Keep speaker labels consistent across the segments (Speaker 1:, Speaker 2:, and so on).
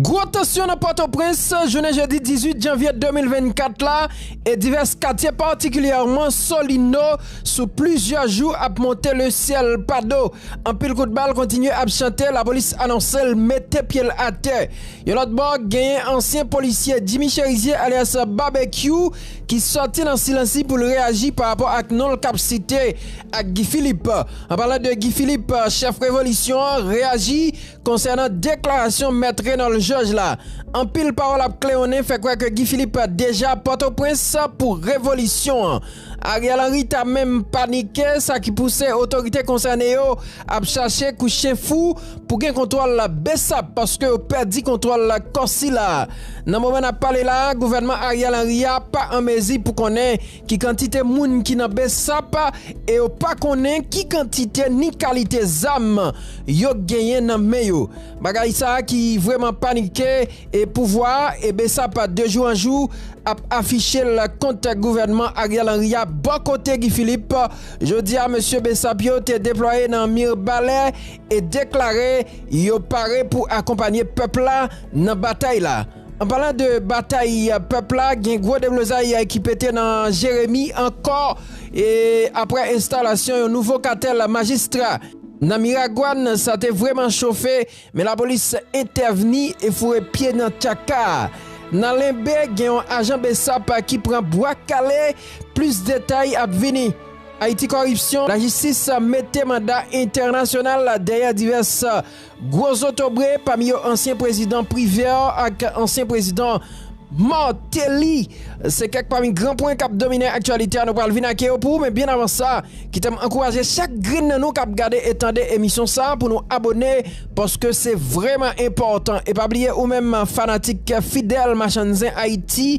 Speaker 1: Gwo tansyon nan Pòtoprens jounen jedi 18 janvye 2024 la e divès katye patikilyèman Solino sou plizyè jou ap monte le syèl pa do. Anpil kout bal kontinye ap chante, lapolis anonse l mete pye l atè. Yon lòt bò, genyen ansyen polisye Jimmy Cherizier alyas Babekyou ki sòti nan silans li pou l reyaji pa rapò ak non l k ap site ak Guy Philippe. An palan de Guy Philippe, chèf revolisyon an reyaji konsènan deklarasyon mèt Renòl Jòj la. Anpil pawòl ap klewonnen fè kwè ke Guy Philippe deja Pòtoprens pou revolisyon an. Ariel Henry ta menm panike sa ki pouse otorite konsène yo ap chache kou chen fou pou gen kontwòl Bsap paske yo pèdi kontwòl kò sila. Nan moman nap pale la, gouvènman Ariel Henry a pa an mezi pou konnen Ki kantite moun ki nan bsap e yo pa konnen ki kantite ni kalite zam yo genyen nan men yo. Bagay sa ki vreman panike e pouvwa e bsap de jou an jou ap afiche l kont gouvènman Ariel Henry a bò kote Guy Philippe jodi a mesye bsap yo te deplwaye nan Mirbalè e deklare yo pare pou akonpanye pèp la nan batay la. An palan de batay pèp la, gen gwo deblozay ki pete nan Jeremi ankò aprè enstalasyon yon nouvo katèl majistra nan Miragwàn. Sa te vreman chofe men lapolis entèvni e foure pye nan tchaka a. Nan Lenbe, gen yon ajan bsap ki pran bwa kale. Plis detay ap vini. Ayiti Kòripsyon, Lajistis mete manda entènasyonal dèyè divès Gwo zotobre, pami yo ansyen prezidan Privert ak ansyen prezidan Martelly, se kèk pami gran pwen k ap domine aktyalite a. Nou pral vin ak yo pou ou, men byen avan sa, kite m ankouraje chak grenn nan nou k ap gade e tande emisyon sa pou nou abone, paske se vrèman enpòtan. E pa bliye ou menm fanatik fidèl Machann Zen Ayiti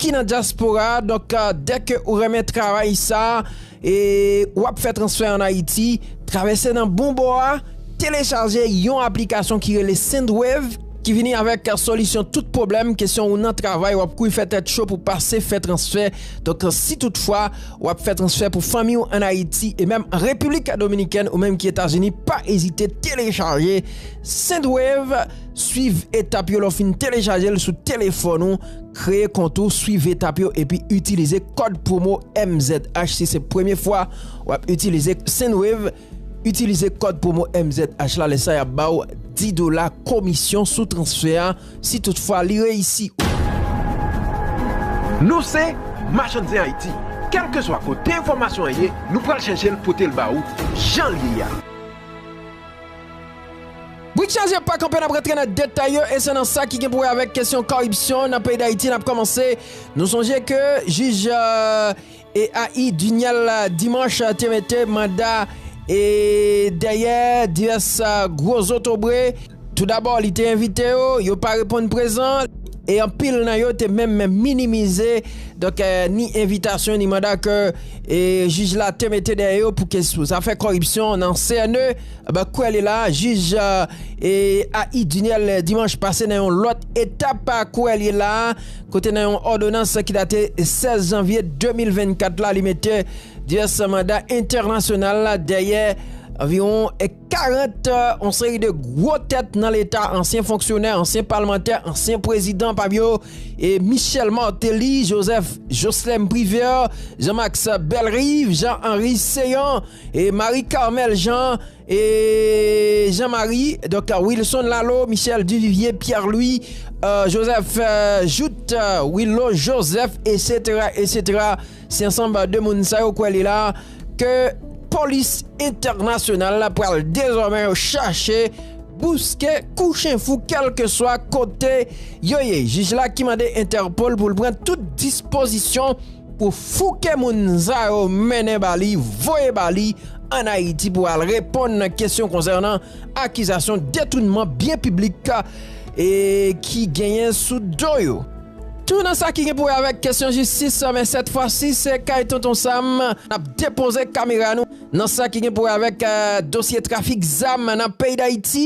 Speaker 1: ki nan dyaspora a, donk dèke ou renmen travay sa, E ou ap fè transfè an Ayiti, travèse nan bon bò a, telechaje yon aplikasyon ki rele Sendwave ki vini avèk solisyon tout pwoblèm kesyon ou nan travay ou ap kouri fè tèt cho pou pase fè transfè. Donk si tout fwa ou ap fè transfè pou fanmi ou an Ayiti e menm an Repiblik Dominikèn ou menm ki Etazini pa ezite telechaje Sendwave, swiv etap yo lè ou fin telechaje l sou telefòn ou. Kreye kont ou, swiv etap yo epi itilize kòd pwomo MZH si se premye fwa wap itilize Sendwave, itilize kòd pwomo MZH la lè sa yap baw 10 dola komisyon sou transfè a si tout fwa li reyisi.
Speaker 2: Nou se Machann Zen Ayiti, kèlkeswa kote enfòmasyon an ye nou pral chèche l pote l ba ou jan l ye a.
Speaker 1: Brik chaje pa kanpe nap rantre nan detay yo e se nan sa ki gen pou wè avèk kesyon koripsyon nan peyi dayiti nap komanse nou sonje ke jij Eahi Duniel Dimanche te mete manda e dèyè divès gwo zotobre tou dabò li te envite yo yo pa reponn prezan e anpil nan yo te menm minimize donk ni envitasyon ni manda ke jij la te mete dèyè yo pou zafè koripsyon nan CNE. Aba kwè li la, jij A. I. Duniel dimanch pase nan yon lòt etap kwè li la kote nan yon òdonans ki date 16 janvye 2024 la li mete divès manda entènasyonal dèyè anviwon 40 yon seri de gwo tèt nan leta ansyen fonksyonè, ansyen palmantè, ansyen prezidan pami yo Michel Martelly, Joseph Jocelerme Privert, Jean Max Bellerive, Jean Henry Céant. E Marie Carmelle Jean e Jean Marie donk Wilson Laleau Michel Duvivier Pierre Louis Joseph Jouthe Willo Joseph esetera esetera se ansanm de moun sa yo kwè li la ke polis entènasyonal la pral dezòmè yo chache bouske kou chen fou kèlkeswa kote yo ye jij la ki mande entèpol pou l pran tout dispozisyon Pou fouke moun sa yo mennen ba li, voye ba li an Ayiti pou al reponn nan kesyon konsènan akizasyon detounman byen piblik ki genyen sou do yo. Tou nan sa ki gen pou wè avèk kesyon jistis, men sèt fwa si se kay Tonton Sam n ap depoze kamera nou nan sa ki gen pou wè avèk dosye trafik zam nan peyi Dayiti.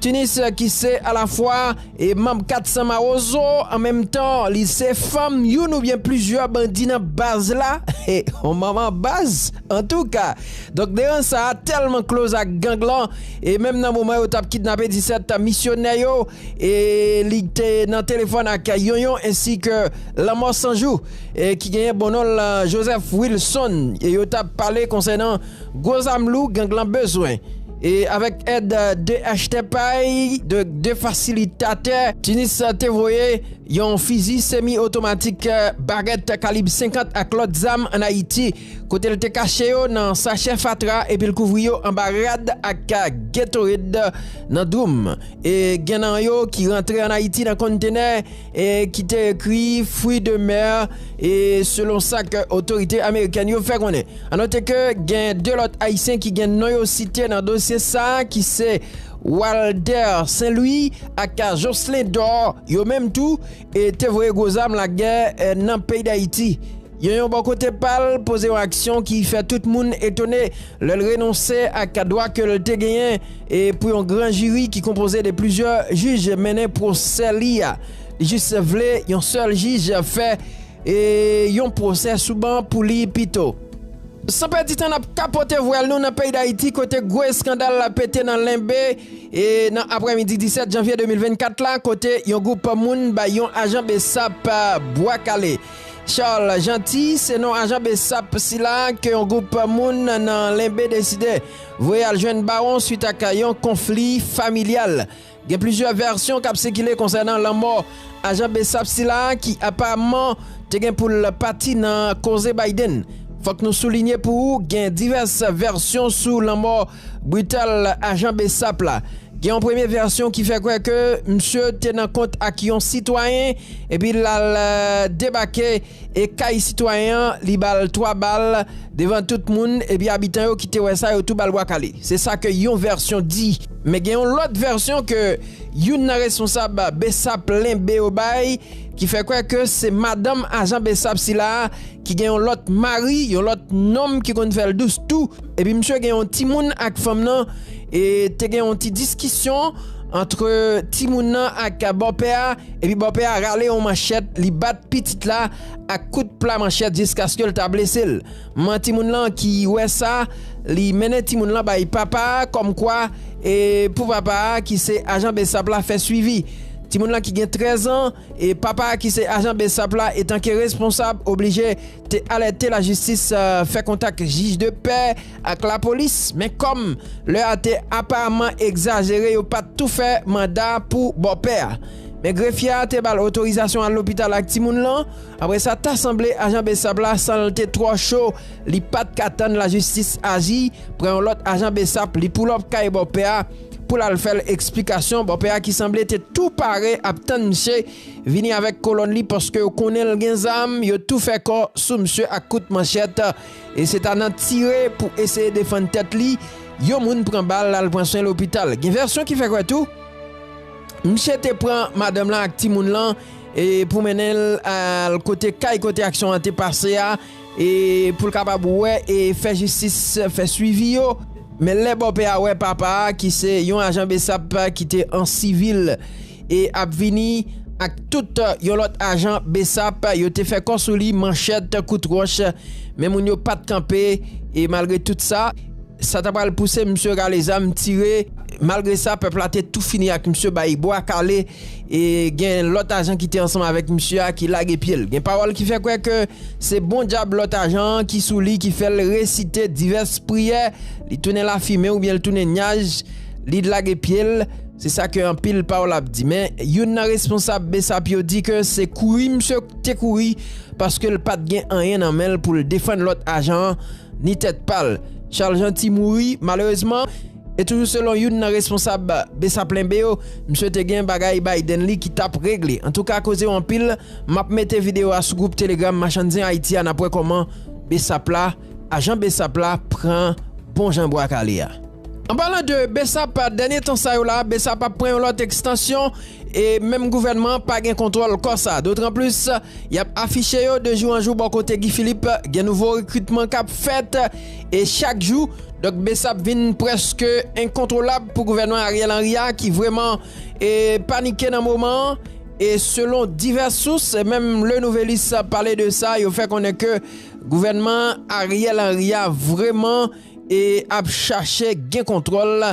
Speaker 1: Tunis ki se alafwa e manb 400 mawozo an menm tan li se fanm youn oubyen plizyè bandi nan baz la he on manman baz antouka donk deran sa a tèlman kloz ak gang lan e menm nan moman yo tap kidnape 17 misyonè yo e li te nan telefòn ak yonyon ensi ke lanmò sanjou e ki genyen bon non l Joseph Wilson e yo tap pale konsènan Gwo zam lou gang lan bezwen. E avèk èd 2 achtèp ay de 2 fasilitatè, Tunis te voye yon fizi semi otomatik, barèt kalib 50 ak lòt zam an Ayiti kote l te kache yo nan sachè fatra epi l kouvri yo anba rad ak Gatorade nan dwoum e gen nan yo ki rantre an Ayiti nan konntenè. e ki te ekri Fruits de mer e selon sa ke otorite amerikèn yo fè konnen. A note ke gen 2 lòt ayisyen ki gen non yo site nan dosye sa ki se Walder Saint Louis ak Jocelin Dor yo menm tou te voye gwo zam lagè nan peyi Dayiti. Yon yon bò kote pa l, poze yon aksyon ki fè tout moun etone lè l renonse ak dwa ke l te genyen e pou yon gran jiri ki konpoze de plizyè jij mennen pwosè li a. Li jis vle yon sèl jij fè yon pwosè sou ban pou li pito. San pèdi tan n ap kapote vwèl nou nan peyi Dayiti kote gwo eskandal la pete nan Lenbe nan aprèmidi 17 janvye 2024 la kote yon gwoup moun bay yon ajan bsap bwa kale. Charles Jeanty se non ajan bsap sila ke yon gwoup moun nan Lenbe deside voye al jwenn Bawon swit ak yon konfli familyal. Gen plizyè vèsyon k ap sikile konsènan lanmò ajan bsap sila ki aparamman te gen pou l pati nan koze Biden. Fòk nou soulinye pou ou gen divès vèsyon sou lanmò. Brital, ajan bsap la. Gen yon premye vèsyon ki fè kwè ke msye te nan kont ak yon sitwayen epi l al debake e kay sitwayen an li ba l 3 bal devan tout moun epi abitan yo ki te wè sa yo tou ba l bwa kale. Se sa ke yon vèsyon di. Men gen yon lòt vèsyon ke youn nan responsab bsap lenbe yo bay ki fè kwè ke se madanm ajan bsap sila a ki gen yon lòt mari, yon lòt nonm ki konn fè l dous tou. Epi misye gen yon timoun ak fanm nan e te gen yon ti diskisyon antre timoun nan ak bòpè a epi bòpè a rale yon manchèt li bat pitit la ak kout pla manchèt jiskaske l ta blese l. Manman timoun lan ki wè sa, li mennen timoun lan bay papa a kòmkwa e pou papa a ki se ajan bsap la fè swivi. Timoun lan ki gen 13 an e papa a ki se ajan bsap la etanke responsab oblije te alète lajistis fè kontak jij de pè ak lapolis men kòm lè a te aparamman egzajere yo pat tou fè manda pou bòpè a men grefye a te bal otorizasyon al lopital ak timoun lan apre sa ta sanble ajan bsap la san l te twò cho li pat ka tann lajistis aji pran yon lòt ajan bsap li poulòp kay bòpè a pou l al fè l eksplikasyon bòpè a ki sanble te tou pare ap tann msye. vini avèk kolòn li paske yo konnen l gen zam, yo tou fè kò sou msye ak kout manchèt e se ta nan tire pou eseye defann tèt li, yon moun pran bal al pran swen lopital. Gen vèsyon ki fè kwè tou, msye te pran madanm lan ak timoun lan e pou mennen l al kote kay kote aksyon an te pase a, e pou l kapab wè e fè jistis, fè swivi yo. Men lè bòpè a wè papa a ki se yon ajan bsap ki te an sivil e ap vini ak tout yon lòt ajan bsap, yo te fè kò sou li manchèt, kout wòch, men moun yo pa t kanpe e malgre tout sa, sa ta pral pouse msye rale zam tire. Malgre sa, pèp la te tou fini ak msye bay bwa kale. E gen lòt ajan ki te ansanm avèk misye a ki lage pye l. Gen pawòl ki fè kwè ke se bon dyab lòt ajan an ki sou li ki fè l resite divès priyè, li tounen lafimen oubyen l tounen nyaj, li lage pye l, se sa ke anpil pawòl ap di. Men, youn nan responsab bsap yo di ke se kouri misye te kouri paske l pa t gen anyen nan men l pou l defann lòt ajan an ni tèt pa l. Charles Jeanty mouri malerezman. E toujou selon youn nan responsab Bsaplenbe yo, msye te gen bagay bay den li ki tap regle. Antouka koze yo anpil, map mete video a sou group telegram machann zen Haiti a nap wè koman Bsap la, ajan Bsap la pran bon jan bwa kale a. An palan de Bsap, dènye tan sa yo la Bsap ap pran yon lòt ekstansyon e menm gouvènman an pa gen kontwòl kò sa. Dotran plis, yap afiche yo de jou an jou bò kote Guy Philippe gen nouvo rekritman kap fèt. E chak jou, Dòk Bsap vin prèske enkontwolab pou gouvènman Ariel Henry a ki vrèman panike nan moman an. E selon divès sous, menm Le Nouvelliste pale de sa, yo fè konnen ke gouvènman Ariel Henry a vrèman ap chache gen kontwòl.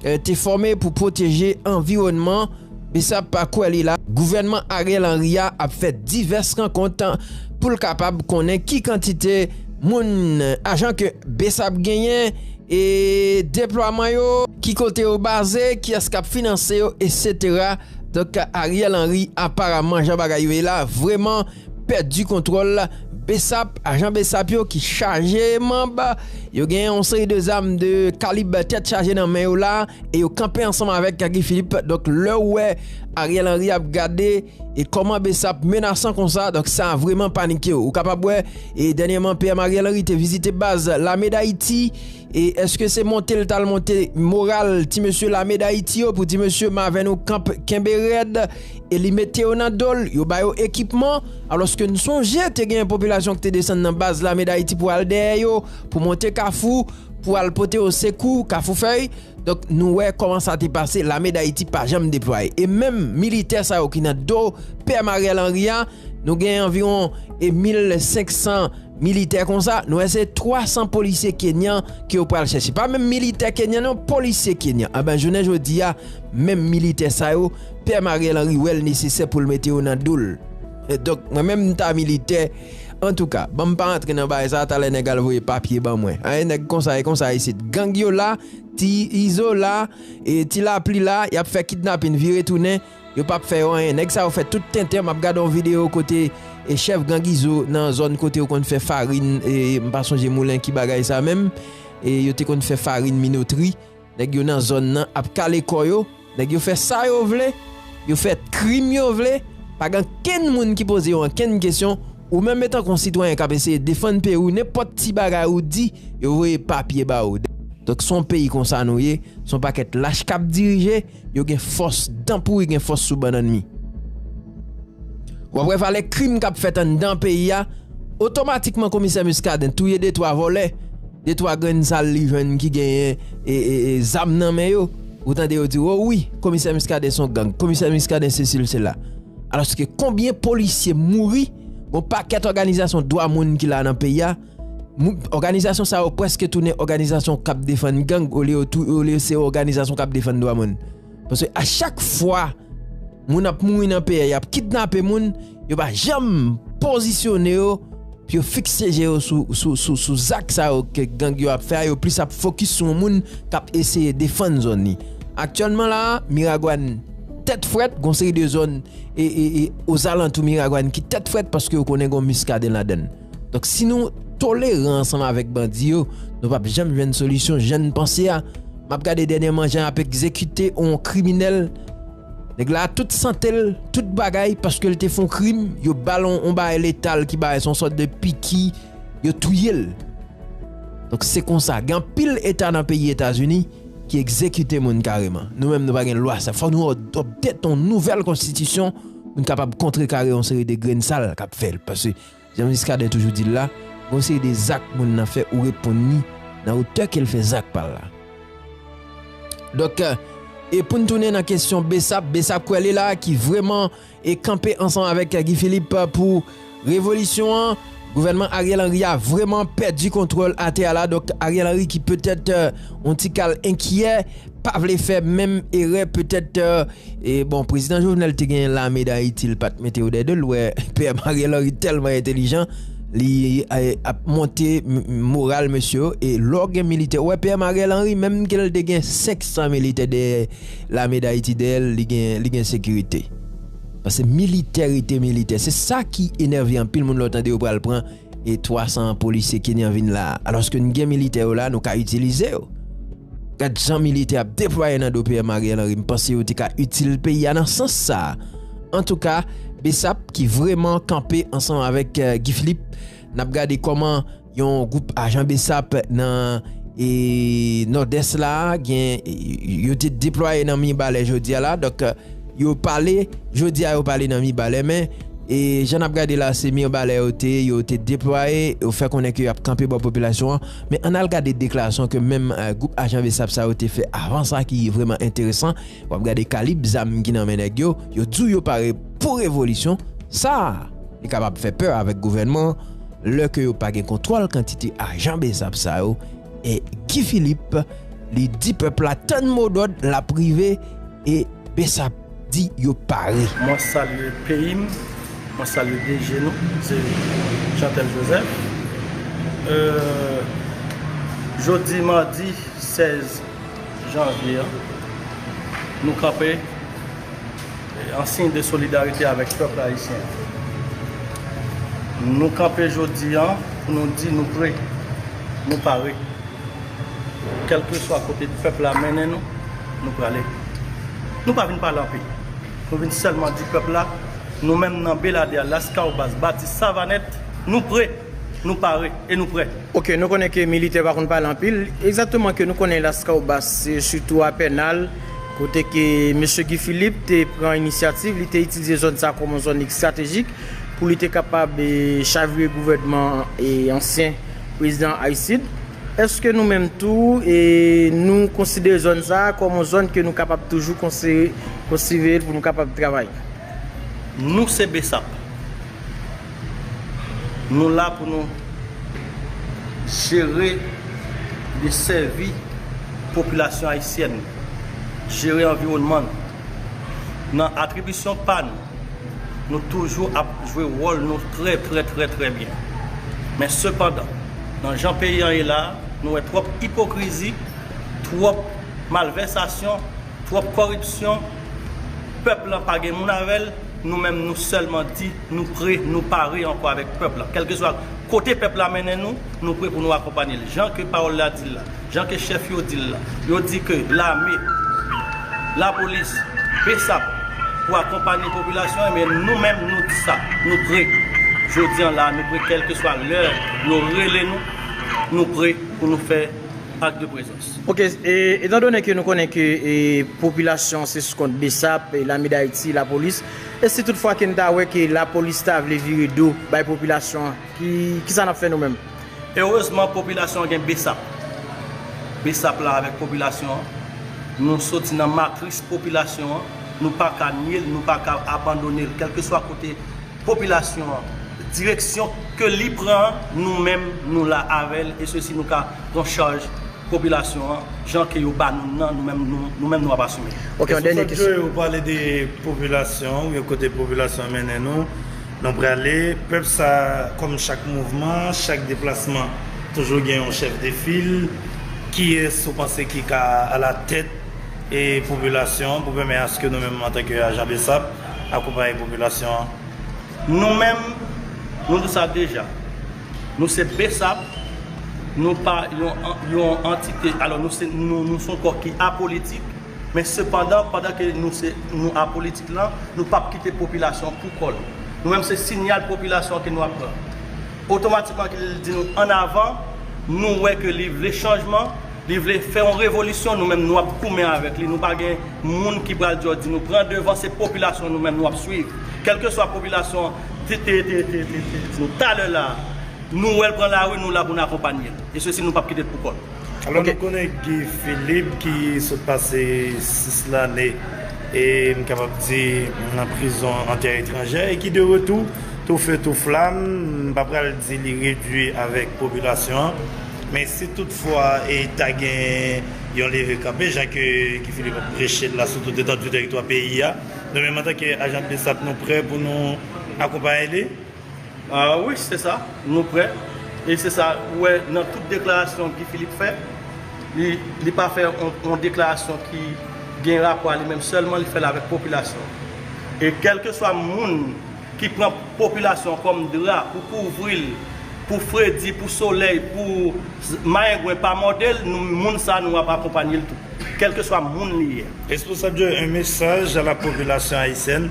Speaker 1: te fòme pou pwoteje anviwònman Bsap pa kwè li la. Gouvènman Ariel Henry a ap fè divès rankont pou l kapab konnen ki kantite moun, ajan ke Bsap genyen e deplwaman yo, ki kote yo baze, kiyès k ap finanse yo, etc. Donk Ariel Henry aparaman jan bagay yo ye la vreman. pèdi kontwòl bsap, ajan bsap yo ki chaje manb yo gen yon seri de zam de kalib tèt chaje nan men yo la e yo kanpe ansanm avèk Guy Philippe donk lè ou wè Ariel Henry ap gade e kòman bsap menasan konsa donk sa vreman panike ou kapab wè e dènyèman PM Ariel Henry te vizite baz lame dayiti e eske se monte l tal monte moral ti mesye lame dayiti yo pou di mesye mavè nou kanp kenbe rèd e li mete yo nan do l, yo ba yo ekipman, alòske n sonje te gen popilasyon ki te desann nan baz lame Dayiti pou al dèyè yo, pou monte Kafou, pou al pote yo sekou, Kafoufèy. Donk, nou wè kòman sa te pase, lame Dayiti pa janm deplwaye. E menm militè sa yo ki nan do pèm Ariel Henry a, nou gen anviwon 1500 militè konsa, nou wè se 300 polisye kenyan ke yo pral chèche. Pa menm militè kenyan non, polisye kenyan. Anben, jounen jodi a, menm militè sa yo, Tèm Ariel Henry wèl nesesè poul mete yo nan dol donk mwen menm mta militè antouka banm pa antre nan bagay sa talè nèg al voye papye ban mwen an e nèg konsa e konsa isit gang yo la ti izo la e ti lapli la yap fè kidnapin vire tounen yo pap fè yo anyen nèg sa yo fè tout tenten map gade yon video kote e chèf gang izo nan zòn kote yo konn fè farin e mpa sonje moulen ki bagay sa menm e yo te konn fè farin minotri. Nèg yo nan zòn nan ap kale kò yo, nèg yo fè sa yo vle, yo fè krim yo vle, pa gen ankenn moun ki poze yo ankenn kesyon, ou menm etan ke yon sitwayen kap eseye defann peyi w nenpòt ti bagay ou di yo voye papye ba ou, donk se yon peyi konsa nou ye, se yon pakèt lach kap dirije. Yo gen fòs, dan pouri gen fòs sou bannann mi. Wap wè valè krim kap fèt anndan peyi a, otomatikman komisè Muscadin touye de twa vòlè, de twa grenn sal li jwenn ki genyen zam nan men yo, ou tande yo di ou wi komisè Muscadin son gang, komisè Muscadin sesi l sela. Alòske konbyen polisye mouri, gon pakèt òganizasyon dwa moun ki la nan peyi a, Òganizasyon sa yo prèske tounen òganizasyon k ap defann gang olye yo se òganizasyon k ap defann dwa moun. Paske a chak fwa moun ap mouri nan peyi a, y ap kidnape moun, yo pa janm pozisyone yo pou yo fikse je yo sou zak sa yo ke gang yo ap fè a, yo plis ap fokis sou yon moun k ap eseye defann zòn li. Aktyèlman la a, Miragwàn tèt frèt, gon seri de zòn e ozalantou Miragwàn ki tèt frèt paske yo konnen gon Miskaden ladann. Donk si nou toleran ansanm avèk bandi yo, nou pap janm jwenn solisyon jan n panse a. M ap gade dènyèman jan y ap egzekite on kriminèl. Nèg la tout sante l, tout bagay paske l te fon krim, yo ba l on bagay letal ki bagay se yon sòt de piki, yo touye l. Donk se konsa, gen anpil eta nan peyi Etazini ki egzekite moun kareman. Nou menm nou pa gen lwa sa. Fò nou adopte on nouvèl konstitisyon pou n kapab kontrekare yon seri de grenn sal k ap fèt. Jan Muscadin toujou di l la, gen yon seri de zak moun nan fè ou reponn li nan otè ke l fè zak pa l la. Donk, e pou n tounen nan kesyon Bsap, Bsap kwè li la ki vreman e kanpe ansanm avèk Guy Philippe pou revolisyon an, gouvènman Ariel Henry a vreman pèdi kontwòl atè a la, donk Ariel Henry ki petèt yon ti kal enkyè. pa vle fè menm erè petèt bon prezidan Jovenel te gen lame dayiti li pat mete yo dè 2 l wè pè Ariel Henry tèlman entelijan li ap monte moral mesye yo e lè w gen militè wè pè Ariel Henry menm ke l te gen 500 militè dèyè lame dayiti dèyè l li gen sekirite pase militè rete militè se sa ki enève anpil moun lè w tande yo pral pran e 300 polisye kenyan vin la alòske n gen militè yo la nou ka itilize yo. Gad jan militè ap deplwaye nan do PM Ariel Henry m panse yo te ka itil peyi a nan sans sa a. Antouka Bsap ki vreman kanpe ansanm avèk Guy Philippe nap gade kòman yon gwoup ajan Bsap nan Nòdès la gen yo te deplwaye nan Mibalè jodi a la donk yo pale jodi a yo pale nan Mibalè men jan nap gade la se Mirbalè yo te yo te deplwaye yo fè konnen ke yap kanpe bò popilasyon an. Men ann al gade deklarasyon ke menm gwoup ajan bsap sa yo te fè avan sa ki vreman enteresan. W ap gade kalib zam ki nan men nèg yo. Yo di w yo pare pou revolisyon. Sa a li kapab fè pè avèk gouvènman an lè ke yo pa gen kontwòl kantite ajan bsap sa yo. E Guy Philippe li di pèp la tann modòd l ap rive e bsap. di yo pare. Mwen salye
Speaker 3: peyi m, mwen salye DG nou, se Jeantel Joseph. Jodi madi 16 janvye an, nou kanpe an siy de solidarite avèk pèp ayisyen. Nou kanpe jodi an pou nou di nou pre, nou pare. Kèlkeswa kote pèp la mennen nou, nou prale. Nou pa vin pale anpil. Nou vin sèlman di pèp la, nou menm nan Beladè, Laskawobas, Bati, Savanèt, nou pre, nou pare e nou prè. Ok, nou konnen ke militè
Speaker 4: pa konn pale anpil. Egzakteman ke nou konnen Laskawobas, se sitou a Pènal, kote ke Mesye Guy Philippe te pran inisyativ, li te itilize zòn sa kòm yon zòn estratejik pou li te kapab chavire gouvènman ansyen Prezidan Aristide. Èske nou menm tou, nou konsidere zòn sa a kòm yon zòn ke nou kapab toujou konsive l pou nou kapab travay?
Speaker 3: Nou se bsap. Nou la pou nou jere e sèvi popilasyon ayisyèn, jere anviwònman nou. Nan atribisyon pa nou, Nou toujou ap jwe wòl nou trè trè trè trè byen. Men sepandan, nan jan peyi an ye la a, nou wè twòp ipokrizi, twòp malvèsasyon, twòp kòripsyon, pèp lan pa gen moun avè l, nou menm nou sèlman di nou pre, nou pare ankò avèk pèp lan. Kèlkeswa kote pèp la mennen nou, nou pre pou nou akonpanye l. Jan ke pawòl la di l la. Jan ke chèf yo di l la, yo di ke lame, lapolis, bsap pou akonpanye popilasyon an, men nou menm nou di sa, nou pre. Jodi an la a nou pre kèlkeswa lè yo rele nou, nou pre pou nou fè ak de prezans. Ok, etan
Speaker 4: done ke nou konnen ke popilasyon se sou kont bsap, lame dayiti, lapolis, e si tout fwa ke n ta wè ke lapolis ta vle vire do bay popilasyon an? Ki sa n ap fè nou menm? Erezman
Speaker 3: popilasyon an gen bsap. Bsap la avèk popilasyon an. Nou soti nan matris popilasyon an. Nou pa ka nye l, nou pa ka abandone l. Kèlkeswa kote popilasyon an, direksyon ke li pran an, nou menm nou la avè l. E sesi nou ka pran chaj popilasyon an jan ke yo ba nou nan, nou menm nou menm nou ap asime. Ok, yon dènye kesyon. Sòt
Speaker 4: Joe ou pale de
Speaker 5: popilasyon, yon kote popilasyon an mennen nou. Nou prale, pèp sa a, kòm chak mouvman, chak deplasman, toujou gen yon chèf de fil. Kiyès ou panse ki ka alatèt e popilasyon an pou pèmè aske nou menm antanke ajan bsap akonpaye popilasyon an? Nou
Speaker 3: menm, nou di sa deja, nou se bsap, nou pa yon antite, alò nou se, nou son kò ki apolitik. Men sepandan, pandan ke nou se nou apolitik lan, nou p ap kite popilasyon an pou kò l. Nou menm se sinyal popilasyon an ke nou ap pran. Otomatikman ke li di nou an avan, nou wè ke li vle chanjman, li vle fè yon revolisyon, nou menm nou ap goumen avèk li. Nou pa gen moun ki pral di di nou pran devan, se popilasyon an nou menm nou ap swiv. Kèlkeswa popilasyon an te te te te te di nou talè la a, nou wè l pran lari, nou la pou n akonpanye l. E sesi nou p ap kite l pou kò l. Alò nou konnen
Speaker 5: Guy Philippe ki sot pase 6 lane e m kapab di nan prizon an tè etranjè e ki de retou tou fe tou flam, m pa pral di li redui avèk popilasyon an men si tout fwa e ta gen yon leve kanpe jan ke Guy Philippe ap preche l la sou tout etandi teritwa peyi a nou menm antanke ajan bsap nou prè pou nou akonpaye li.
Speaker 3: Wi se sa, nou prè. E se sa ou wè nan tout deklarasyon Guy Philippe fè. Li pa fè yon deklarasyon ki gen rapò a li menm sèlman, li fè l avèk popilasyon an. E kèlkeswa moun ki pran popilasyon an kòm dra pou kouvri l, pou fredi, pou solèy, pou mayengwen pa mòde l, moun sa a nou ap akonpanye l tou. Kèlkeswa moun li ye. Responsab yo, un
Speaker 5: message à la population haïtienne.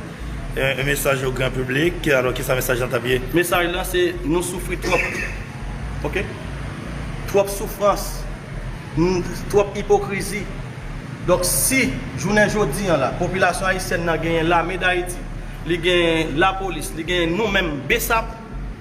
Speaker 5: Yon mesaj o gran piblik, alò kisa mesaj lan t ap ye? Mesaj lan se
Speaker 3: nou soufri twòp ok, twòp soufrans, twòp ipokrizi, donk si jounen jodi an la popilasyon ayisyèn nan genyen lame dayiti, li genyen lapolis, li genyen nou menm bsap.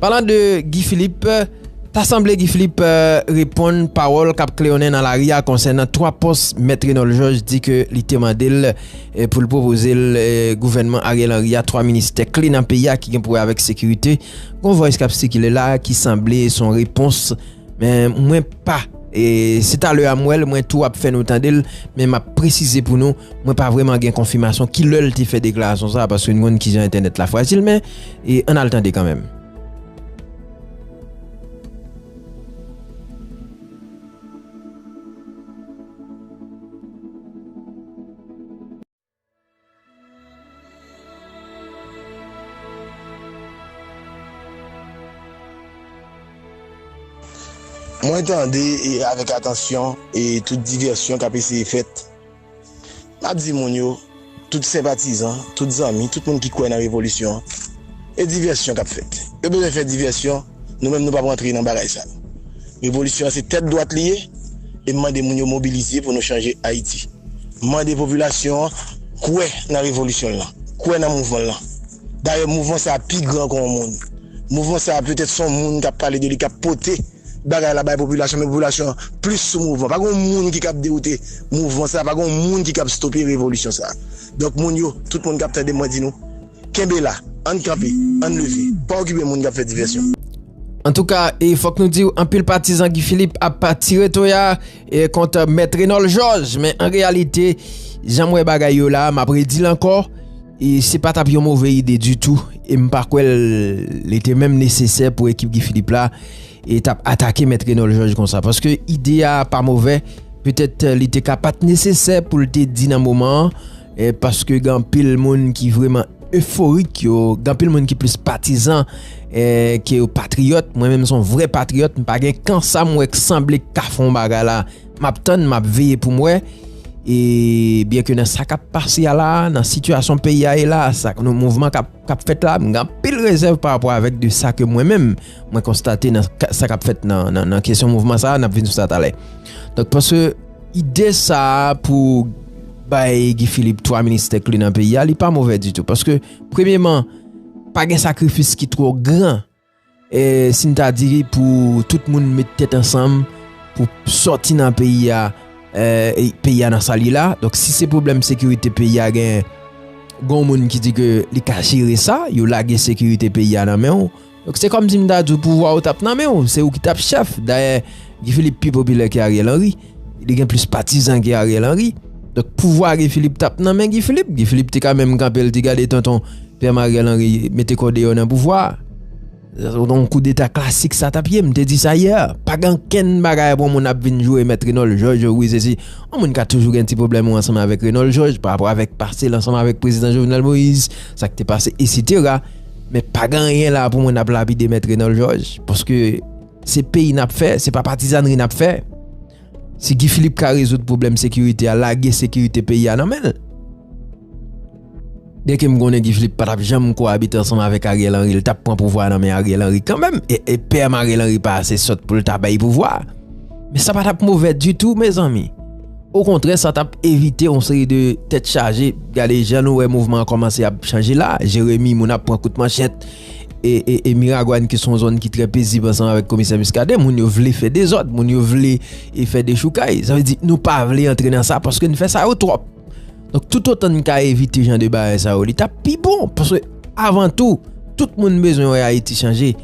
Speaker 1: Palan de Guy Philippe, ta sanble Guy Philippe reponn pawòl kap kleyonnen nan lari a konsènan 3 pòs Mèt Renòl Jòj di ke li te mande l pou l pwopoze l gouvènman Ariel Henry a 3 ministè kle nan peyi a ki gen pou wè avèk sekirite. Gon vòys kap sikile la ki sanble son repons. Men mwen pa e se talè a m wè l mwen tou ap fè nou tande l men m ap presize pou nou mwen pa vreman gen konfimasyon ki lè l te fè deklarasyon sa a paske nou konn kijan entènèt la fwajil men e ann al tande kanmenm.
Speaker 6: Mwen tande avèk atansyon e tout divèsyon k ap eseye fèt. M ap di moun yo, tout senpatizan, tout zanmi, tout moun ki kwè nan revolisyon, e divèsyon k ap fèt. Yo bezwen fè divèsyon. Nou menm nou pap rantre nan bagay sa. Revolisyon an se tèt dwat li ye e m mande moun yo mobilize pou nou chanje Ayiti. M mande popilasyon an kwè nan revolisyon l lan, kwè nan mouvman l lan. Dayè mouvman sa a pi gran ke yon moun. Mouvman sa a petèt se yon moun k ap pale de li, k ap pote bagay la bay popilasyon men popilasyon an plis sou mouvman. Pa gen yon moun ki kab dewoute mouvman sa a, pa gen yon moun ki kab stope revolisyon sa a. Donk moun yo, tout moun k ap tande m mwen di nou. Kenbe la, ann kanpe, ann leve, pa okipe moun k ap fè divèsyon. Antouka,
Speaker 1: e fòk nou diw anpil patizan Guy Philippe ap tire toya kont Mèt Renòl Jòj, men an reyalite, jan m wè bagay yo la, m ap redil ankò, se pa t ap yon move ide ditou, e m pa kwè li te menm nesesè pou ekip Guy Philippe la t ap atake Mèt Renòl Jòj konsa, paske ide a pa move, petèt li te ka pa t nesesè pou l te di nan moman an. E paske gen anpil moun ki vreman eforik yo, gen anpil moun ki plis patizan e ke yo patriyòt, mwen menm son vre patriyòt, m pa gen kan sa m wè k sanble k ka fon bagay la, m ap tann, m ap veye pou m wè. E byen ke nan sa k ap pase a la, nan sitiyasyon peyi a ye la, sa k nou mouvman k ap. kap fèt la, m gen anpil rezèv pa rapò avèk de sa ke mwen menm mwen konstate nan sa kap fèt nan kesyon mouvman sa, nap vin sou sa talè. Donk paske ide sa pou bay Guy Philippe 3 ministè kle nan peyi a, li pa movè ditou. Paske premyeman, pa gen sakrifis ki twò gran. E si n ta di pou tout moun met tèt ansanm pou sòti nan peyi a, peyi a nan sa l ye la, donk si se pwoblèm sekirite peyi a genyen, gon moun ki di ke li ka jere sa, yo lage sekirite peyi a nan men w, donk se kòm si m ta di w pouvwa ou t ap nan men w, se ou ki t ap chèf, dayè Guy Philippe pi popilè ke Ariel Henry. Li gen plis patizan ke Ariel Henry. Donk pouvwa Guy Philippe tap nan men Guy Philippe. Guy Philippe te ka menm kanpe li di gade tonton pèm Ariel Henry mete kò deyò nan pouvwa. Yon koudeta klasik sa tap ye. M te di sa yè. Pa gen ankenn bagay pou yon moun ap vin jwe mèt Renold George wi se si. Yon moun ka toujou gen ti pwoblèm ou ansanm avèk Renold George pa rapò avèk pase l ansanm avèk prezidan Jovenel Moïse. Sa k te pase esitera. Men pa gen anyen la pou moun ap lapide mèt Renold George. Paske. Se peyi nap fè, se pa patizanri nap fè. Si Guy Philippe ka rezoud pwoblèm sekirite a, lage sekirite peyi a nan men l. Byen ke m konnen Guy Philippe pa tap janm ko abite ansanm avèk Ariel Henry, l tap pran pouvwa a nan men Ariel Henry kanmenm, e PM Ariel Henry pa ase sòt pou l ta bay pouvwa a. Men sa pa tap movè ditou mezanmi. Okontrè sa tap evite yon seri de tèt chaje, gade jan nou wè mouvman an kòmanse ap chanje la, Jeremie moun ap pran kout manchèt, e Miragwàn ki son zòn ki trè pezib ansanm avèk komisè Muscadin, moun yo vle fè dezòd, moun yo vle e fè dechoukay. Sa vle di nou pa vle antre nan sa paske n fè sa yo twòp. Donk tout otan n ka evite jan de bagay sa yo li ta pi bon paske avan tou, tout moun bezwen wè Ayiti chanje.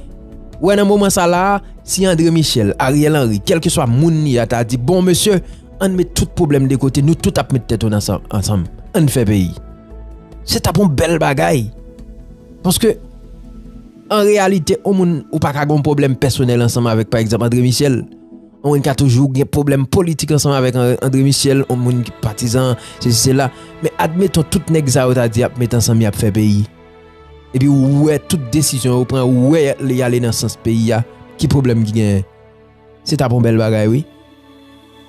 Speaker 1: Wè nan moman sa la, si André Michel, Ariel Henry, kèlke swa moun li a ta di bon mesye, an n met tout pwoblèm de kote, nou tout ap met tèt nou ansanm, an n fè peyi. Se ta pon bèl bagay. Paske, an reyalite, yon moun ou pa ka gen yon pwoblèm pèsonèl ansanm avèk pa egzanp André Michel. Yon moun ka toujou gen pwoblèm politik ansanm avèk André Michel, yon moun ki patizan, sesi sela. Men admeton tout nèg sa yo ta di y ap met ansanm y ap fè peyi. Epi ou wè tout desizyon yo pran, ou wè y ale nan sans peyi a, ki pwoblèm ki genyen? Se tap yon bèl bagay wi.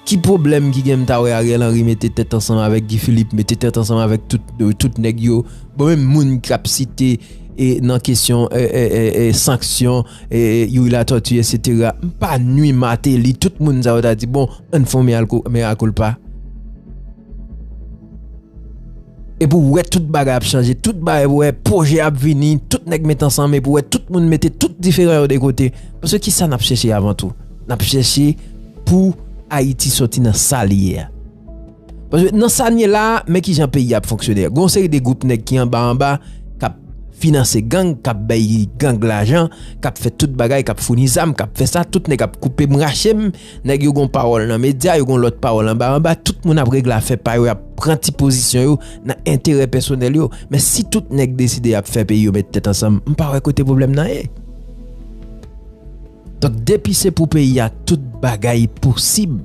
Speaker 1: Ki pwoblèm ki gen m ta wè Ariel Henry mete tèt ansanm avèk Guy Philippe, mete tèt ansanm avèk tout nèg yo, bon menm moun kap site nan kesyon sanksyon Youri Latortue etc. M pa nwi Martelly tout moun sa yo ta di bon ann fè yon mea culpa. Epi ou wè tout bagay ap chanje, tout bagay ou wè pwojè ap vini, tout nèg met ansanm epi ou wè tout moun mete tout diferan yo de kote. Paske ki sa n ap chèche avan tou? N ap chèche pou Ayiti soti nan sa li ye a. Paske nan sa n ye la a, men ki jan peyi a ap fonksyone. Gon seri de gwoup nèg ki anba anba, k ap finanse gang, k ap bay gang lajan, k ap fè tout bagay, k ap founi zam, k ap fè sa, tout nèg ap koupe m rache m. Nèg yo gon pawòl nan medya, yo gon lòt pawòl anba anba, tout moun ap regle afè pa yo, y ap pran ti pozisyon yo nan enterè pèsonèl yo. Men si tout nèg deside y ap fè peyi yo met tèt ansanm, m pa wè kote pwoblèm nan ye. Donk depi se pou peyi a, tout bagay posib.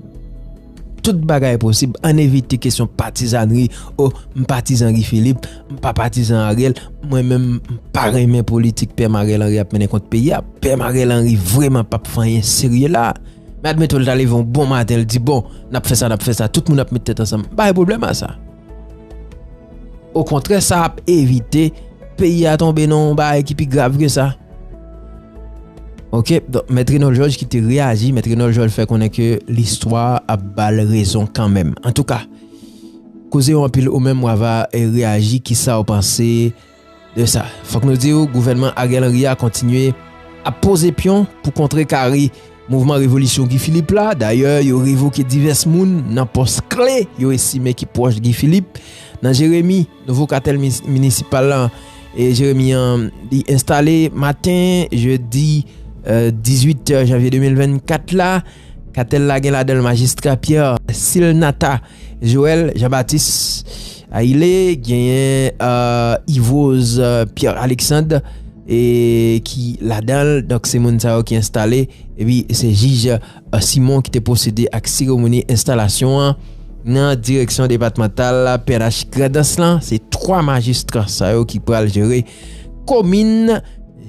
Speaker 1: Tout bagay posib, ann evite kesyon patizannri, o, m patizan Guy Philippe, M pa patizan Ariel, mwen menm m pa renmen politik PM Ariel Henry ap mennen kont peyi a. PM Ariel Henry vreman p ap fè anyen serye la a. Men admeton l ta leve yon bon maten l di bon, n ap fè sa, n ap fè sa, tout moun ap met tèt ansanm, m pa gen pwoblèm a sa. Okontrè sa ap evite peyi a tonbe nan yon bagay ki pi grav ke sa. Ok, donk mèt Renol Jòj ki te reyaji, mèt Renol Jòj fè konnen ke listwa ap ba l rezon kanmenm. Antouka. Koze yo anpil ou menm wava reyaji kisaw panse de sa. Fòk nou diw gouvènman Ariel Henry a kontinye ap poze pyon pou kontre kare mouvman revolisyon Guy Philippe la. Dayè yo revoke divès moun nan pòs kle yo estime ki pwòch Guy Philippe. Nan Jeremi, nouvo katèl minisipal lan Jeremi an li enstale maten jedi 18 janvye 2024 la. Katèl la gen ladan l majistra Pierre Silnatha Joël Jean Baptiste Ayile, genyen Yvrose Pierre Alexandre ki ladan l, donk se moun sa yo ki enstale, epi se jij Simon ki te pwosede ak seremoni enstalasyon an nan direksyon depatmantal pnh Grandans lan, se 3 majistra sa yo ki pral jere. komin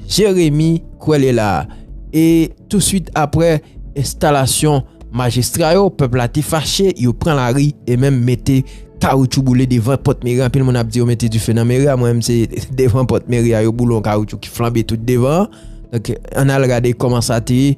Speaker 1: Jeremi Kwele la. E touswit apre enstalasyon majistra yo, pèp la te fache, yo pran lari e menm mete kawoutchou boule devan pòt meri a. Anpil moun ap di yo mete dife nan meri a, mwen menm se devan pòt meri a yo boule yon kawoutchou ki flanbe tout devan an. Donk, ann al gade kòman sa te ye.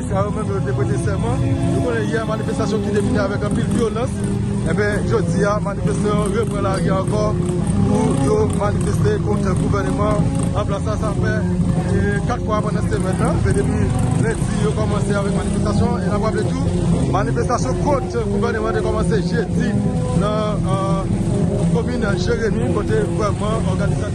Speaker 7: Sa yo menm yo te prete sèman. Nou konnen yè manifestasyon ki te fini avèk anpil vyolans, enben jodi a manifestan yo repran lari ankò pou yo manifeste kont gouvèneman an plas la. Sa fè 4 fwa pandan semèn nan, se depi lendi yo kòmanse avèk manifestasyon an. E n ap raple tou, manifestasyon kont gouvèneman te kòmanse jedi nan komin Jeremi kote vrèman òganizasyon.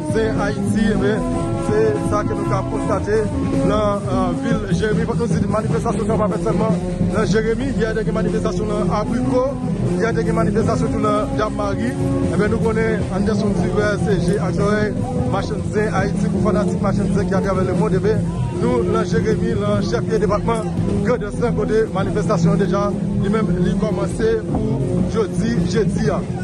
Speaker 7: Se Ayiti, enben, se sa ke nou ka konstate nan vil Jeremi. Fòk nou di manifestasyon sa pa fèt sèlman nan Jeremi. Yè te gen manifestasyon nan Abriko, yè te gen manifestasyon tou nan Dam-Mari. Enben, nou konnen Anderson Silver se je ak zòrèy machann zen Ayiti. Pou fanatik machann zen ki atravè lemond, enben, nou nan Jeremi, nan chèflye depatman Grandans lan, kote manifestasyon an deja li menm li kòmanse pou jodi jedi a.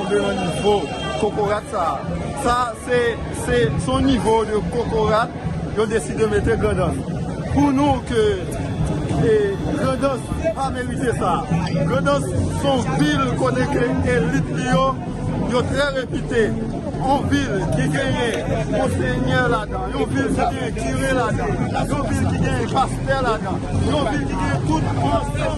Speaker 7: Rive nan nivo kokorat sa a. Sa se se son nivo de kokorat yo deside mete grandans. Pou nou ke e grandans pa merite sa. Grandans son vil kote ke elit li yo yo trè repite. Yon vil ki genyen monsenyè ladan. Yon vil ki genyen kire ladan. Yon vil ki genyen pastè ladan. Yon vil ki genyen tout ansanm.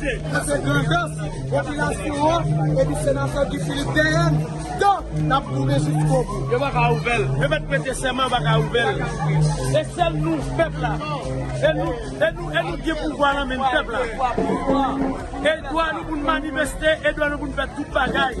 Speaker 3: Sa se grandans popilasyon an epi senatè Guy Philippe dèyè n donk n ap goumen jiskobou. Yo pa ka ouvè l. Yo
Speaker 7: mèt prete sèman yo pa ka ouvè l. E sèl nou pèp la. E nou e nou e nou gen pouvwa nan men n pèp la. E dwa nou pou n manifeste e dwa nou pou n fè tout bagay.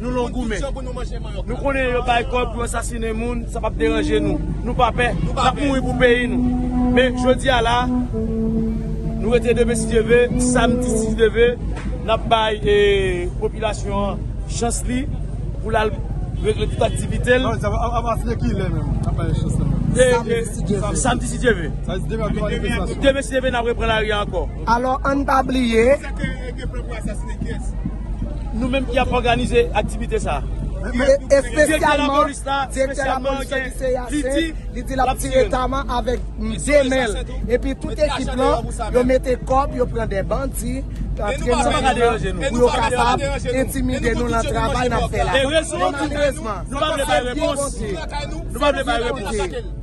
Speaker 7: Nou long goumen. Nou konnen yo bay kòd pou yo sasinen moun, sa pap deranje nou. Nou pa pè. Nou ap mouri pou peyi nou. Men jodi a la, nou rete demen si Dye ve, samdi si Dye ve, n ap bay popilasyon an chans li pou l al regle tout aktivite l. Samdi si Dye ve. Demen si Dye ve n ap repran lari a ankò. Alò ann pa
Speaker 3: bliye.
Speaker 7: Nou menm ki ap òganize aktivite sa a. Direktè
Speaker 3: lapolis la espesyalman gen li di l ap tire taman avèk de men l. Epi tout ekip lan yo mete kòb yo pran de bandi antre nan men yo pou yo kapab entimide nou nan travay n ap fè la. Malèrezman
Speaker 7: se byen bondye.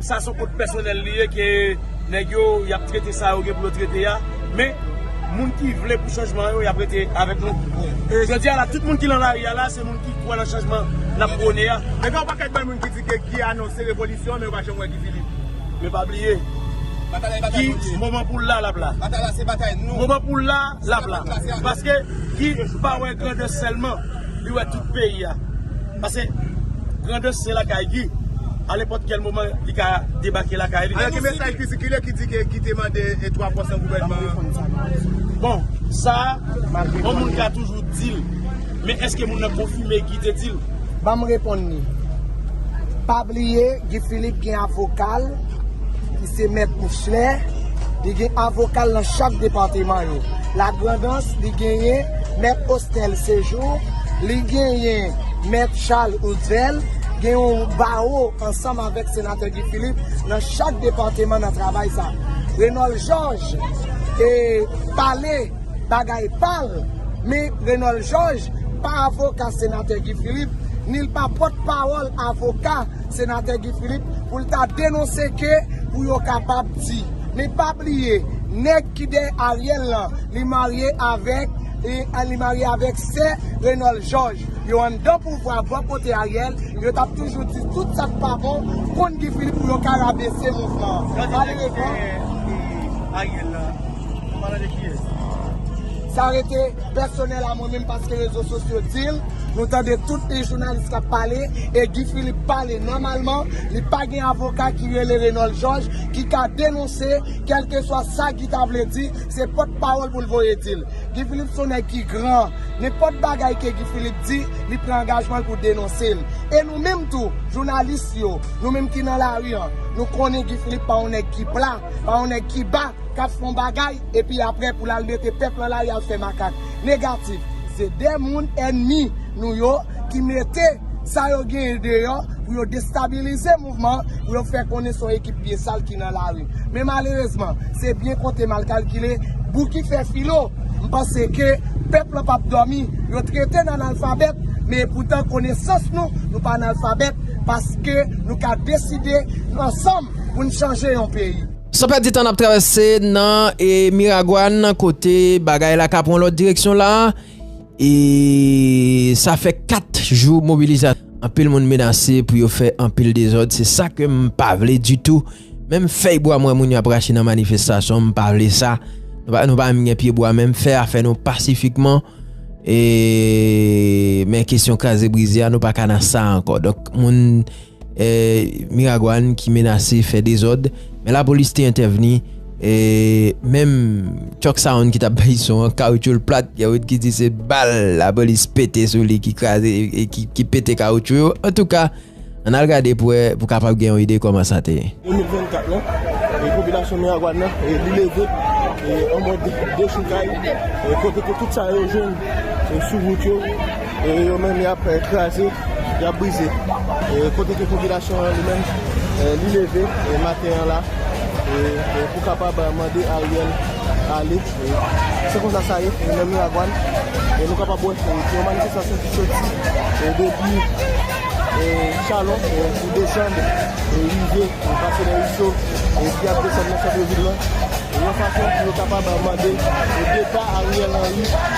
Speaker 7: Sa son kont pèsonèl li ye ke nèg yo yap trete sa yo gen pou yo trete ya men moun ki
Speaker 3: vle pou chanjman yo yap rete avèk nou jodia la tout moun ki lan lari ya la se moun ki kwè lan chanjman nap prone ya. Men gen yon pakèt bann moun ki di ke Guy anonse revolisyon men yo pa janm wè Guy Philippe. Men pa bliye Guy moman poul la lap la moman
Speaker 8: poul la lap
Speaker 3: la paske Guy pa wè grandè sèlman. Li wè tout peyi a. Pase Grandans se lakay Guy. A nenpòt kèl moman li ka debake lakay li. Alò gen mesaj ki sikile
Speaker 8: ki di ke Guy te mande 3 pòs nan gouvènman an.
Speaker 3: Bon, sa a, yon moun ka toujou di l. Men èske moun nan konfime Guy te di l? Ban m reponn li.
Speaker 9: Pa bliye Guy Philippe gen avoka l ki se Mèt Michelet. Li gen avoka l nan chak depateman yo. Lagrandans, li genyen Mèt Osnel Sejou, li genyen Mèt Chal Oudvel, gen yon bawo ansanm avèk Senatè Guy Philippe nan chak depateman nan travay sa. Renòl Jòj e pale bagay pa l, men Renòl Jòj pa avoka Senatè Guy Philippe, ni l pa pòtpawòl avoka. Senatè Guy Philippe pou l ta denonse ke pou yo kapab di. Men pa bliye nèg ki dèyè Ariel lan li marye avèk li marye avèk sè Renold Georges. Yo anndan pouvwa bò kote Ariel yo t ap toujou di tout sa k pa bon kont Guy Philippe pou yo ka rabese mouvman an. Gade rezon
Speaker 3: Ariel lan. Mwen pa tande kiyes. Sa rete
Speaker 9: pèsonèl a mwen menm paske rezo sosyo dil, nou tande tout li jounalis kap pale e Guy Philippe pale nòmalman, li pa gen avoka ki rele Renòl Jòj ki ka denonse kèlkeswa sa Guy ta vle di, se pòt pawòl poul voye dil. Guy Philippe son nèg ki gran, nenpòt bagay ke Guy Philippe di, li pran angajmanl pou denonsel. E nou menm tou, jounalis yo, nou menm ki nan lari an, nou konnen Guy Philippe pa yon nèg ki pla, Pa yon nèg ki ba, k ap fè yon bagay, epi apre pou l al mete pèp lan lari al fè makak. Negatif. Se de moun ènmi nou yo ki mete sa yo genyen deyò pou yo destabilize mouvman an, pou yo fè konnen se yon ekip pye sal ki nan lari. Men malerezman, se byen konte mal kalkile, Bouki fè filo. M panse ke pèp lan p ap dòmi. Yo trete n analfabèt, men epoutan konesans nou, nou pa analfabèt, paske nou ka deside ansanm. pou n chanje yon peyi. San pèdi tan n ap
Speaker 1: travèse nan Miragwàn kote bagay la ka pran lòt direksyon la e sa fè 4 jou mobilizasyon anpil moun menase pou yo fè anpil dezòd se sa ke m pa vle ditou menm fèy bwa m wè moun yo ap rache nan manifestasyon m pa vle sa nou pa menm gen pye bwa menm fè a fè nou pasifikman e men kesyon kraze brize a nou pa ka nan sa ankò donk moun Miragwàn ki menase fè dezòd, men lapolis te entèvni, e menm Chuck Sound ki tap bay son an, kawoutchou l plat, gen moun ki di se bal lapolis pete sou li ki kraze, ki pete kawoutchou yo, antouka, ann al gade pou wè, pou kapab gen yon ide kòman sa te ye. 2024 lan,
Speaker 3: e popilasyon Miragwàn nan, e li leve, e an mòd dechoukay, e kote ke tout sa yo jwenn, e sou wout yo. E yo menm yap kraze, yap brize. Kote ke popilasyon an li menm li leve maten an la pou kapab mande Ariel ale. Se konsa sa ye nan Miragwàn. Nou kapab wè se yon manifestasyon ki soti depi Chalon pou desann rive pase nan Iso epi ap desann nan santre vil lan. Yon fason pou yo kapab mande depa Ariel Henry.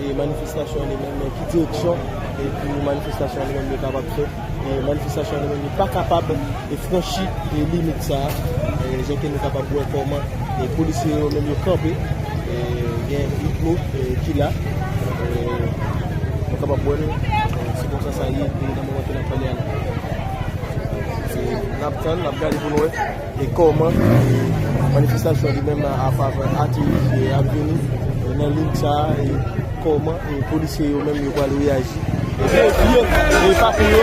Speaker 3: e manifestasyon li menm nan ki direksyon e pou manifestasyon li menm li kapab fèt e manifestasyon li menm li pa kapab e franchi e limit sa a e jan ke nou kapab wè kòman e polisye yo menm yo kanpe e gen idmo e ki la e nou kapab wè l e se konsa sa ye e nan moman ke n ap pale a la se n ap tann n ap gade pou nou wè. E kòman manifestasyon li menm nan anfavè Ati Riviere a ap vini e nan lig sa a e kòman e polisye yo menm yo pral reyaji. Vye vye e papi yo.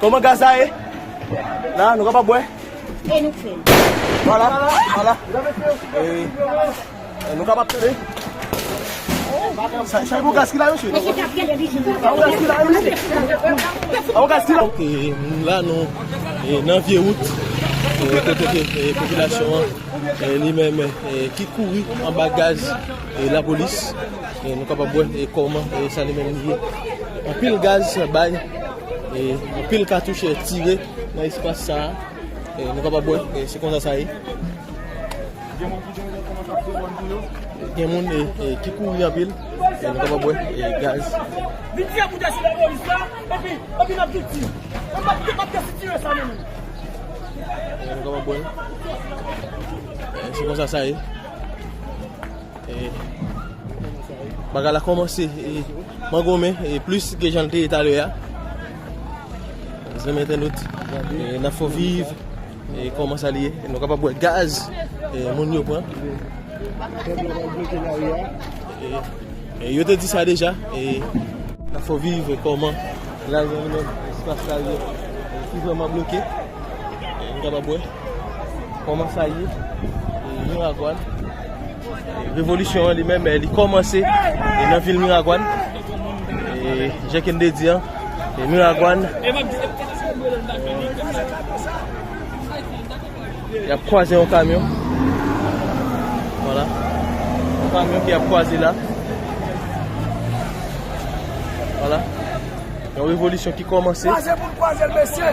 Speaker 3: Koman gaz la ye? La nou kapab wè. E nou
Speaker 10: fèl. Vwala,
Speaker 3: vwala. E nou kapab tande. Sa yon gaz ki la mesye? Mesye kap gade li jis. Sa yon gaz ki la yo mesye? Sa yon gaz ki la? E la nou nan vye wout. E kote ke popilasyon an. E li men men ki kouri anba gaz la polis. E nou kapab wè e koman sa li men li ye. Anpil gaz bay. e anpil katouche tire nan espas sa e nou kapab wè e se konsa sa ye gen moun e ki kouri anpil e nou kapab wè e gaz e nou kapab wè e se konsa sa ye Bagay la komanse mangonmen e plis ke jan te etale a. Zanmi entènot, nan fò viv e koman sa liye. Nou kapab wè gaz e moun yo pran. E yo te di sa deja e nan fò viv e koman la liye li men espas la liye. Ki vreman bloke. Nou kapab wè koman sa liye. Yon ragwad. Revolisyon an li menm li kòmanse nan vil Miragwàn. Jan ke m te di an, Miragwàn y ap kwaze yon kamyon. Vwala, yon kamyon ki ap kwaze la. Vwala, yon revolisyon ki kòmanse. Kwaze pou n kwaze l mesye!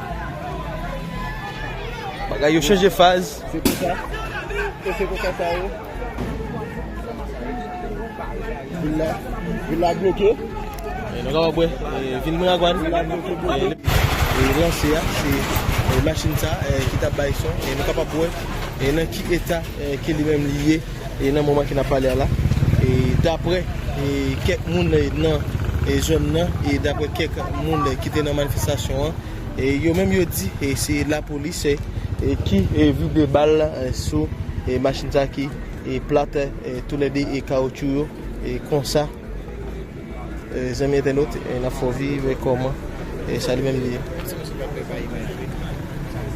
Speaker 3: Bagay yo chanje faz. Se pou sa. E se pou sa sa yo. Vil la. Vil la bloke. E nou ka wap we. Vil mwen ak wan. Vil la bloke bloke. E lan se a. Se machin sa. E ki ta bay son. E nou ka pa wap we. E nan ki eta. Ke li men li ye. E nan moman ke nap pale a la, dapre kèk moun nan zòn nan, e dapre kèk moun ki te nan manifestasyon an, yo menm yo di se lapolis ki vide bal sou machin sa ki plat tou le 2 kawoutchou yo konsa. Zanmi entènot nan fòvi wè kòman sa li menm li ye. Eske misye pa pè pa imajwe sa li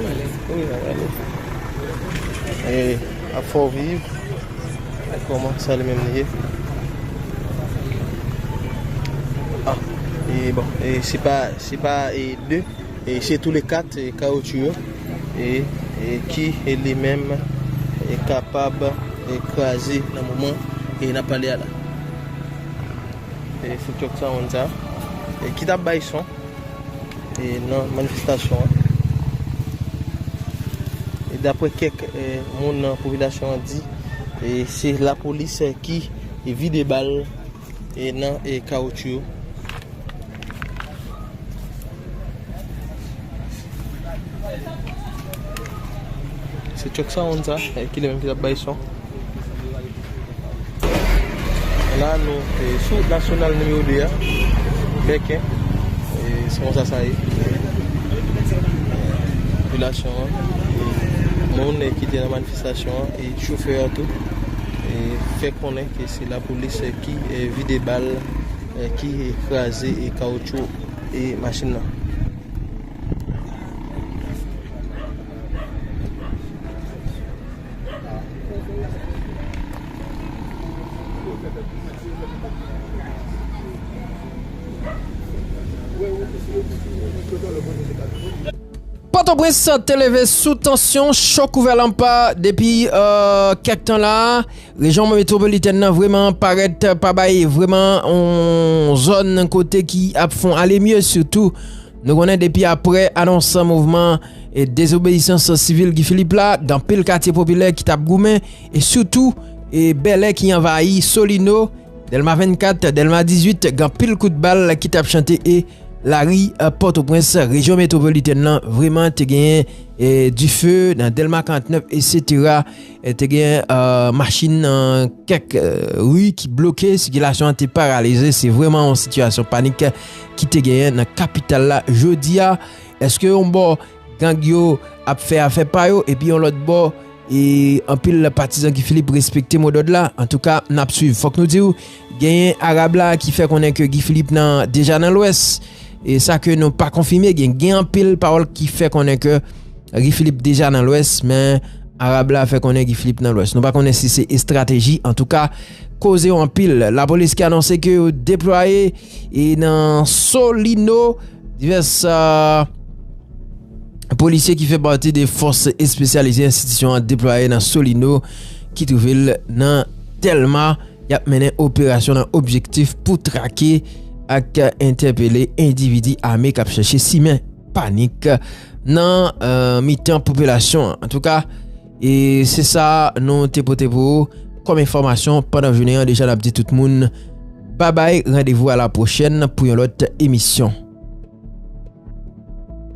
Speaker 3: pale. Wi nap gade. Ap fè w viv wè kòman sa li menm li ye. Ah e bon e se pa se pa e 2 e se tou le 4 kawoutchou yo e e ki e li menm e kapab e kraze nan moman e nap pale a la. E fout yo ksa moun sa E ki tap bay son E nan manifestasyon an E dapre kek moun nan popilasyon an di E se la polis ki vide bal E nan e kawoutchou yo Se chok sa moun sa E ki le moun ki tap bay son La nou te sou wout nasyonal nimewo 2 a, Bèkè, se konsa sa ye. Popilasyon an, moun ki te nan manifestasyon an, e chofè an tou, fè konnen ke se lapolis ki vide bal, ki kraze kawoutchou e machin nan.
Speaker 1: Pòtoprens te leve sou tansyon chò kouvèlanpa depi kèk tan la, rejyon metwopolitèn nan vreman parèt pa bay vreman yon zòn kote ki ap fon ale mye sitou. Nou konnen depi apre anons mouvman dezobeyisans sivil Guy Philippe la, gen anpil katye popilè ki t ap goumen, e sitou Bèlè ki anvayi, Solino, Dèlma 24, Dèlma 18, gen anpil kout bal ki t ap chante e lari Pòtoprens, rejyon metwopolitèn lan vreman te genyen dife nan Dèlma 49 esetera. Te gen machin nan kèk ri ki bloke, sikilasyon an te paralize, se vreman yon sitiyasyon panik. ki te genyen nan kapital la jodi a. Eske yon bò gang yo ap fè afè pa yo epi yon lòt bò e anpil patizan Guy Philippe respekte modòd la? Antouka n ap swiv. Fòk nou di w genyen Arab la ki fè konnen ke Guy Philippe nan deja nan lwès. E sa ke nou pa konfime gen gen anpil pawòl ki fè konnen ke Guy Philippe deja nan lwès men Arab la fè konnen Guy Philippe nan lwès. Nou pa konnen si se estrateji antouka koze yo anpil. Lapolis ki anonse ke yo deplwaye. E nan Solino, divès polisye ki fè pati de fòs espesyalize enstitisyon an deplwaye nan Solino ki twouve l nan Telma. Y ap mennen operasyon nan objektif pou trake ak entèpele endividi ame k ap chèche simen panik nan mitan popilasyon an. E se sa nou te pote pou ou kòm enfòmasyon pandan jounen an deja nap di tout moun babay randevou a la pwochèn pou yon lòt emisyon.